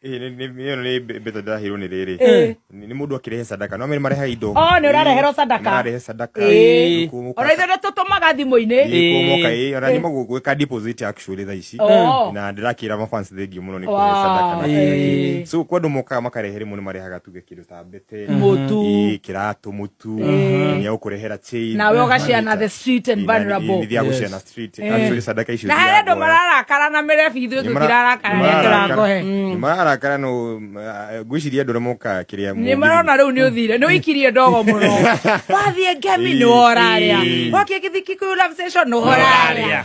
Ĩĩ, nĩ- nĩ- ĩyo nĩ mbe- mbeca ndĩraheirwo nĩ rĩrĩ Ĩĩ. nĩ nĩ mũndũ akĩrehe sadaka no mĩrĩ marehaga indo Oh, nĩ ũrareherwo sadaka. mararehe sadaka Ĩĩ. Gũkũ mũka- ona ithuĩ nĩ tũtũmaga thimũ-inĩ Ĩĩ, gũkũ mũka, ĩĩ, ona Ĩĩ. nyuma gũ- gwĩka deposit actually thaa ici Oh. na ndĩrakĩra mafans thengiũ mũno nĩ Wow. kũrehe sadaka na Ĩĩ. kĩrĩa kĩngĩ. so kwandũ mokaga makarehe rĩmwe nĩ marehaga tuge kĩndũ tambĩte Mũtu. ii kĩratũ mũtu Eh. nĩ ũkũrehera chain nawe ũgaciana the street and vulnerable nithia gũciana street Eh. actually sadaka icio na harĩ andũ thiagoya. mararakara na mĩrebi ithuĩ Nĩ mara- tũtirarakara nĩ nĩ mararakara. tũrakohe Nĩ mararakara no ngwiciria andå rä moka kä rä a nä marona rä u nä å thire nä å ikirie ndogo må no wathiä ngemi nä worarä a wakä gä thiki kå nä worarä a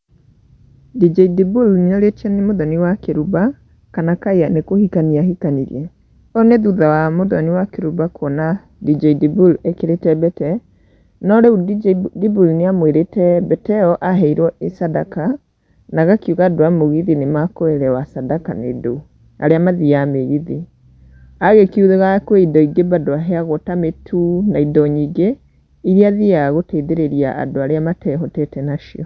Djidibul nĩorĩtio nĩ Mũthoni wa Kĩrumba kana Kaya nĩ kũhikania ahikanirie. Ũũ nĩ thutha wa Mũthoni wa Kĩrumba kuona Djidibul ekĩrĩte mbete, no rĩu Djidibul nĩamwĩrĩte mbete ĩyo aheirwo ĩ sadaka na agakiuga andũ a mũgithi nĩmakũerewa sadaka nĩ ndũ, arĩa mathiaga mĩgithi. Agĩkiuga kwĩ indo ingĩ bado aheagwo ta mĩtu na indo nyingĩ. iria athiaga gũteithĩrĩria andũ arĩa matehotete nacio.